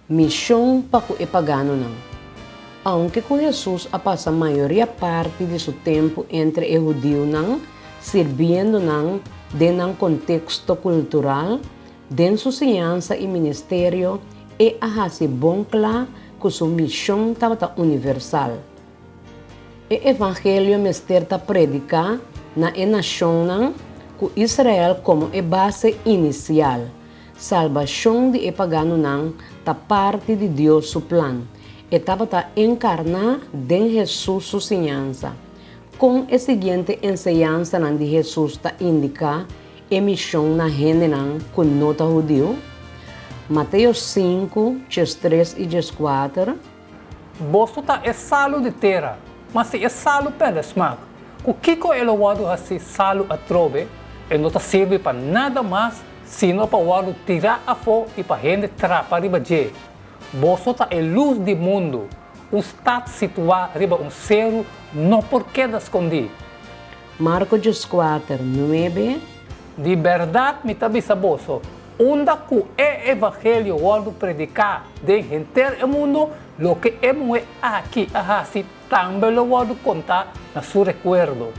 Mishon pa ku e paganonan. Aunke ku Hesus a pasa mayoria parti di su tempu entre e hudiunan, sirbiendo nan den nan konteksto kultural, den su siñansa i ministerio e a hasi bon kla ku su mishon tabata universal, E evangelio mester ta prediká na e nashonnan ku Israel komo e base inisial. Salbashon di e paganonan ta parti di Dios su plan. E tabata enkarná den Hesus su siñansa. Kon e siguiente enseñansanan di Hesus ta indiká e mishon na hendenan ku no ta hudiu? Mateo sinku, djes tres i djes kuater. Boso ta e salu di tera. Ma si e salu perde smak, ku kiko e lo wòrdu hasi salu atrobe? E no ta sirbi pa nada mas sino pa wòrdu tirá afó i pa hende trapa riba dje. Boso ta e lus di mundu. Un stat situá riba un seru no por keda skondí. Marko djoskuater nuebe. Di bèrdat mi ta bisa boso, unda ku e evangelio wòrdu prediká den henter e mundu, loke e muhé aki a hasi tambe lo wòrdu kontá na su rekuerdo.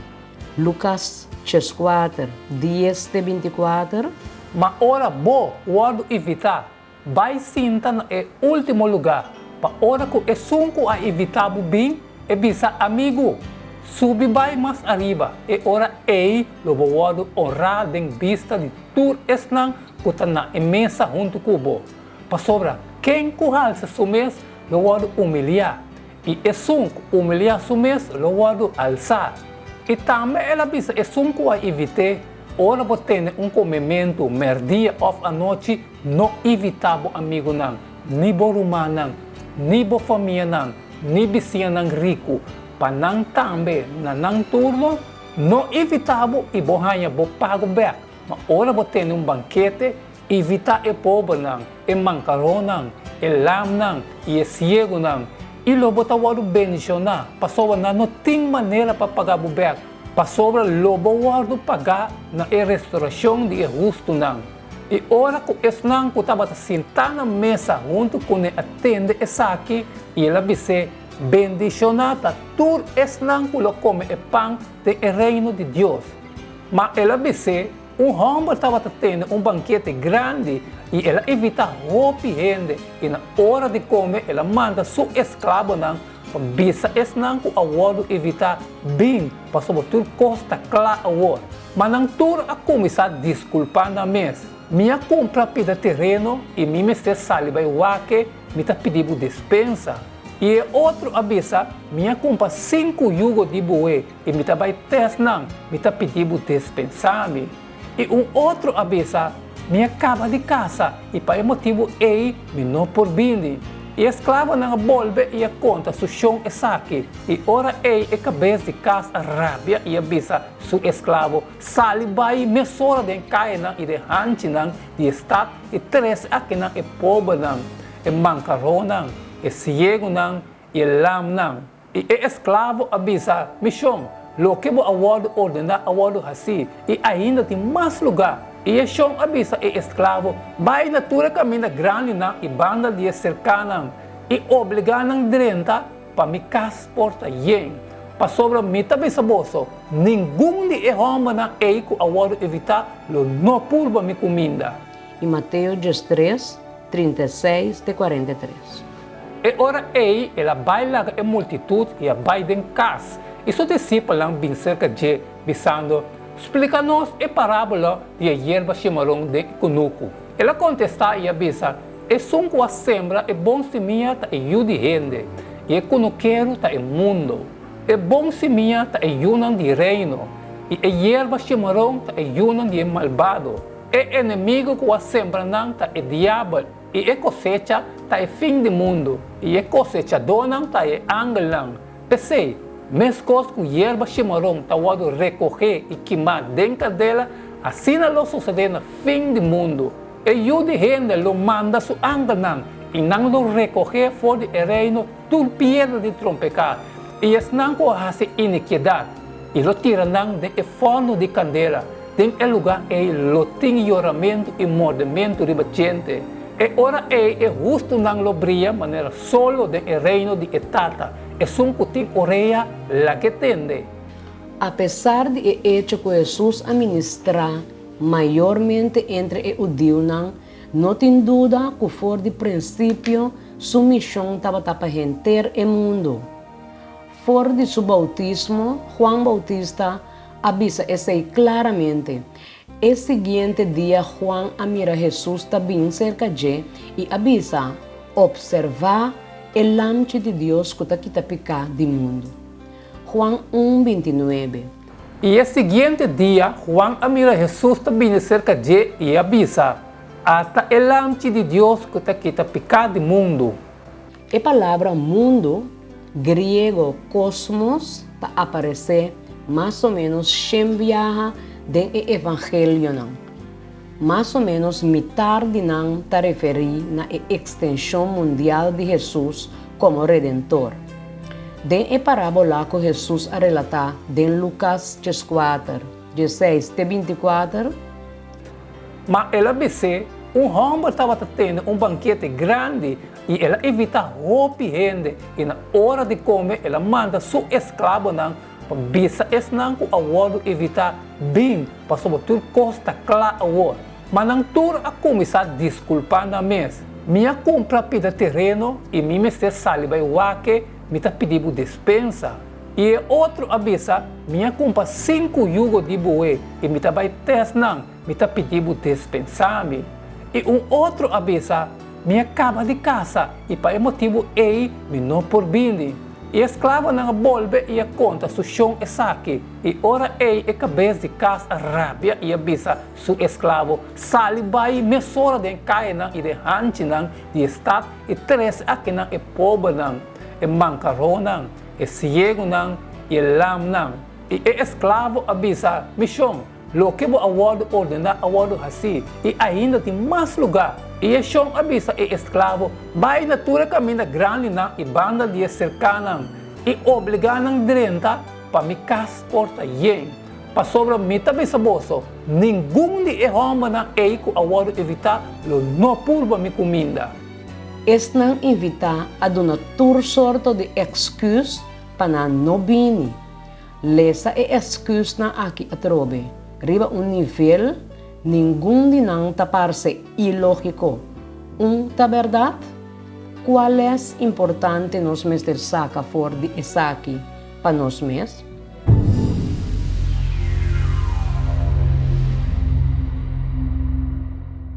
Lukas cheskuater, dies te bintikuater. Ma ora bo wòrdu invitá Bai sinta na e último lugá, pa ora ku esun ku a invitá bo bin, e bisa, Amigu, subi bai mas ariba. E ora ei lo bo wòrdu onrá den bista di tur esnan ku ta na e mesa huntu ku bo. Pasobra ken ku halsa su mes lo wòrdu umiliá, i esun ku umiliá su mes lo wòrdu alsá. I tambe el a bisa esun ku a invit'é, Ora bo tene un komementu, mèrdia òf anochi, No ivitá bo amigunan, ni bo rumannan, ni bo famianan, ni bisiñanan riku, pa nan tambe, na nan turno, no ivitá bo i bo haña bo pagu bèk. Ma ora bo tene un bankete, ivitá e pobernan, e mankaronnan, e lamnan i e siegunan, i lo bo ta wòrdu bendishoná, pasobra nan no tin manera pa pagá bo bèk, pasobra lo bo wòrdu pagá na e restorashon di e hustunan. I ora ku esnan ku tabata sintá na mesa huntu kuné a tende esaki, i el a bis'é, Bendishoná ta tur esnan ku lo kome e pan den e reino di Dios. Ma el a bis'é, Un hòmber tabata tende un bankete grandi, i el a invitá hopi hende, i na ora di kome el a manda su esklabonan Pa bisa esnan ku a wòrdu evitá bin pasobra tur kos ta kla awor. Ma nan tur a kuminsá diskulpá nan mes, Mi a kumpra pida tereno i mi mester sali bai wak-e, mi ta pidi bo despensa. I e otro a bisa, Mi a kumpra sinku yugo di buhé i mi ta bai tès nan, mi ta pidi bo despensá mi. I un otro a bisa, Mi a kaba di kasa i pa e motibu ei mi no por bini. I e sklavonan a bolbe i a konta su shon esaki. I ora ei e kabes di kas a rabia i a bisa su esklavo, Sali bai mesora den kainan i den hanchinan di e stat i trese akinan e pobernan, e mankaronan, e siegunan i e lamnan. I e esklavo a bisa, Mi shon, loke bo a wòrdu ordená a wòrdu hasí, i ainda tin mas lugá. I e shon a bisa e esklavo, Bai na tur e kaminda grandinan i banda di e serkanan, i obligá nan drenta pa mi kas por ta yen. Pasobra mi ta bisa boso, Ningun di e hòmbernan ei ku a wòrdu evitá lo no purba mi kuminda. I Mateo dies tres, trinta i seis te kwarenta i tres. E ora ei el a bai laga e multitud i a bai den kas, i su disipelnan bin serka dje, bisando, Splika nos e parábola di e yerba shimaron den e kunuku. El a kontestá i a bisa, Esun ku a sembra e bon simia ta e yu di hende, i e kunukeru ta e mundu. E bon simia ta e yunan di Reino, i e yerba shimaron ta e yunan di e malbado. E enemigu ku a sembra nan ta e Diabel. I e kosecha ta e fin di mundu, i e kosechadónan ta e angelnan. P'esei, meskos ku yerba shimaron ta wòrdu rekohé i kimá den kadela, asina lo susedé na fin di mundu. E Yu di hende lo manda su angelnan, i nan lo rekohé for di e reino, tur piedra di trompeká, i esnan ku a hasi inikiedat, i lo tira nan den e forno di kandela, den e lugá ei lo tin yoramentu i mordementu riba djente. E ora ei e hustunan lo bria manera solo den e reino di e Tata, esun ku tin orea, lake tende. Apesar di e echo ku Hesus a ministrá mayormente entre e hudiunan, No tin duda ku for di prinsipio su mishon tabata pa henter e mundu. For di su boutismo, Juan Boutista a bisa esei klaramente. E siguiente dia Juan a mira Hesus ta bin serka dje i a bisa, Opservá e Lamchi di Dios ku ta kita piká di mundu. Juan un binti nuebe. I e siguiente dia Juan a mira Hesus ta bini serka dje i a bisa, Asta e Lamchi di Dios ku ta kita piká di mundu! E palabra mundu, griego kosmos, ta aparesé mas o ménos shen biaha den e evangelionan. Mas o ménos mitar di nan ta referí na e ekstenshon mundial di Hesus komo Redentor. Den e parábola ku Hesus a relatá den Lukas djeskuater, djeseis te binti-kuater, Má el a bis'é, Un hòmber tabata tende un bankete grandi i el a invitá hopi hende, i na ora di kome el a manda su esklabonan Pa bisa esnan ku a wòrdu evitá bin pasobra tur kos ta kla awor. Ma nan tur a kuminsá diskulpá nan mes, Mi a kumpra pida tereno i mi mester sali bai wak-e, mi ta pidi bo despensa. I e otro a bisa, Mi a kumpa sinku yugo di boe i mi ta bai tès nan, Mi ta pidi bo despensa mi. I un otro a bisa, Mi a kaba di kasa i pa e motibu ei mi no por bini. I e sklavonan a bolbe i a konta su shon esaki. I ora ei e kabes di kas a rabia i a bisa su esklavo, Sali bai mesora den kainan i den hanchinan di e stat i trese akinan e pobernan, e mankaronnan, e siegunan i e lamnan. I e esklavo a bisa, Mi shon, Loke bo a wòrdu ordená a wòrdu hasí, i ainda tin mas lugá. I e shon a bisa e esklabo, Bai na tur e kaminda grandinan i banda di e serkanan, i obligá nan drenta, pa mi kas por ta yen. Pasobra mi ta bisa boso, Ningun di e hòmbernan ei ku a wòrdu invitá lo no purba mi kuminda. Esnan invitá a duna tur sorto di èksküs pa nan no bini. Lesa e excusnan aki atrobe. Riba un nivel, ningun di nan ta parce ilogico. Un ta berdad? Cua les importante nos mester saca for di esaki pa nos mes?